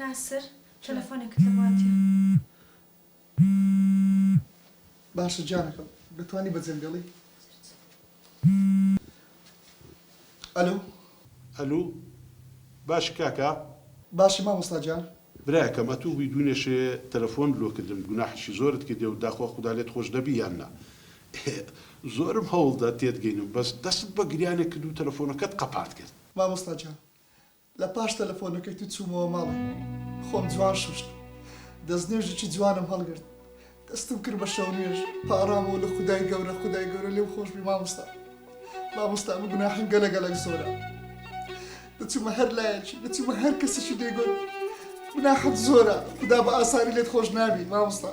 ناسر تەلەفۆنێکت لە بواتیە. باشە گیانەکەم دەتوانی بە جەن بێڵی. ئەلو. ئەلو باشی کاکە. باشی مامۆستا گیان. برایەکەم ئەتو بوی دونێشێ تەلەفۆنت لۆ کردم گوناحیشی زۆرت کردێ و داخوا خودا لێت خۆش دەبی یان نا ئه زۆرم هەوڵدا تێت گەینم بەس دەستت بە گریانێک کرد و تەلەفۆنەکەت قەپات کرد. مامۆستا گیان لە پاش تەلەفۆنەکەی تو چومەوە ماڵێ خۆم جوان شوشت دەستنوێژیکی جوانم هەڵگرت دەستم کرد بە شەونوێژ پاڕامەوە لە خودای گەورە خودای گەورە لێم خۆشبی ماموستا ماموستا من گوناحم گەلە گەلەک زۆرە دەچومە هەر لایەکی دەچومە هەر کەسیشی دێگۆت گوناحت زۆرە خدا بە ئاساری لێت خۆش نابی ماموستا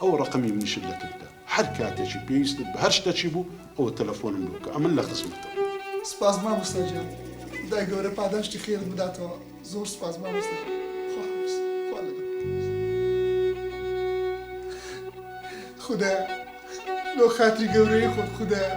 ئەوە ڕەقەمی منیشت لەتف بدە هەر کاتێکی پێویستت بە هەر شتەکی بوو ئەوە تەلەفۆنم لۆ بکە ئەمن لە خزمەتم. سپاس مامۆستا گیان خودای گەورە پاداشتی خێرت بداتەوە زۆر سپاس مامۆستا گیان خواحافیز خوا لەگەڵ خودایە لۆ خاتری گەورەی خۆت خودایە.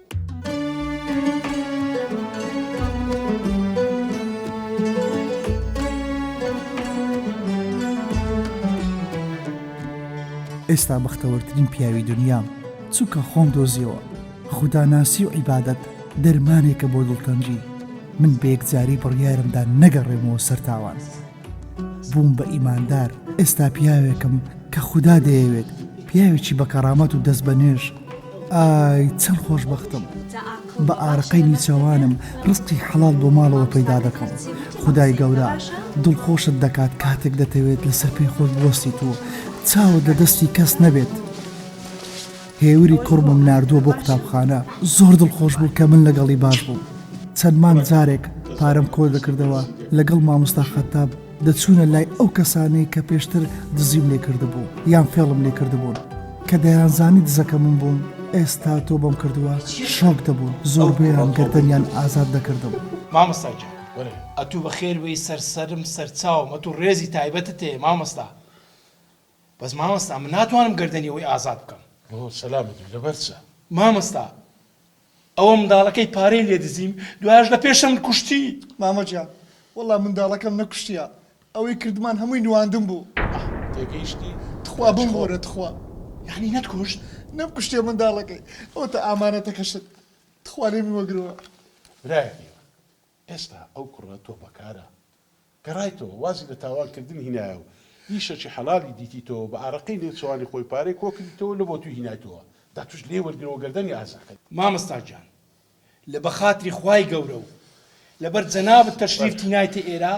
ئێستا بەختەوەرترین پیاوی دنیام چونکە خۆم دۆزیەوە خدا ناسی و عیبادەت دەرمانێکە بۆ دڵتەنگی من بە یەکجاری بڕیارمدا نەگەڕێمەوە سەر تاوان. بووم بە ئیماندار ئێستا پیاوێکم کە خودا دەیەوێت پیاوێکی بە کەڕامەت و دەست بە نوێش ئای چەند خۆشببختم بە ئارەقەی نیچەوانم ڕستی حەڵال بۆ ماڵەوە پەیدا دەکەم خدای گەورە دڵخۆشت دەکات کاتێک دەتەوێت لەسەر پێی خۆش بۆستی و چاوت لە دەستی کەس نەبێت هێوری کوڕمم ناردووە بۆ قوتابخانە، زۆر دڵخۆش بوو کە من لەگەڵی باش بووم. چەند مانگ جارێک پارەم کۆ دەکردەوە، لەگەڵ مامۆستا خەتاب دەچوونە لای ئەو کەسانەی کە پێشتر دزیم لێ کردبوو یان فێڵم لێ کردبوون، کە دەیانزانی دزەکە من بووم، ئێستا تۆبەم کردووە، شۆک دەبوون، زۆربەیان گەردەنیان ئازاد دەکردم. مامۆستا گیان ئەتوو بەخێر بێی، سەر سەرم، سەر چاوم، ئەتوو ڕێزی تایبەتت هەیە مامۆستا. بەس مامۆستا من ناتوانم گەردەنی ئەوی ئازاد بکەم. بۆ سەلامەت بی لەبەر چە. مامۆستا ئەوە منداڵەکەی پارەی لێ دزیم دوایش لە پێشەمت کوشتی. مامە گیان وەڵا منداڵەکەم نەکوشتیە ئەوەی کردمان هەمووی نواندن بوو. ئاه تێگەیشتی تخوا بمبورە تخوا. یانی نەت کوشت؟ نەم کوشتیە منداڵەکەی ئەوتە ئامانەتەکەشت تخوا لێمی وەگرەوە. برایەکی ئێستا ئەو کوڕە تۆپەکارە. گەڕایتەوە وازی لە تاوان کردن هینایە و ئیشەکی حەلالی دیتیتەوە بە ئارەقەی نێچوانی خۆی پارەی کۆ کردیتەوە لە بۆ توی هینایتەوە دا توش لێی وەرگرەوە گەردەنی ئازا کە. مامۆستا گیان لە بە خاتری خوای گەورە و لە بەر جەنابت تەشریف تینایتە ئێرە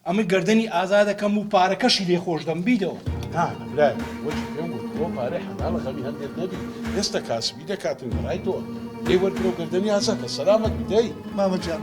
ئەمن گەردەنی ئازا دەکەم و پارەکەشی لێ خۆش دەم بیدەوە. نا نا برایە وەکی پێم گوت ئەوە پارەی حەلالە غەمی هەندێت نەبی ئێستا کاسبی دەکاتن گەڕایتەوە لێی وەرگرەو گەردەنی ئازا کە سەلامەت بی دەی. مامە گیان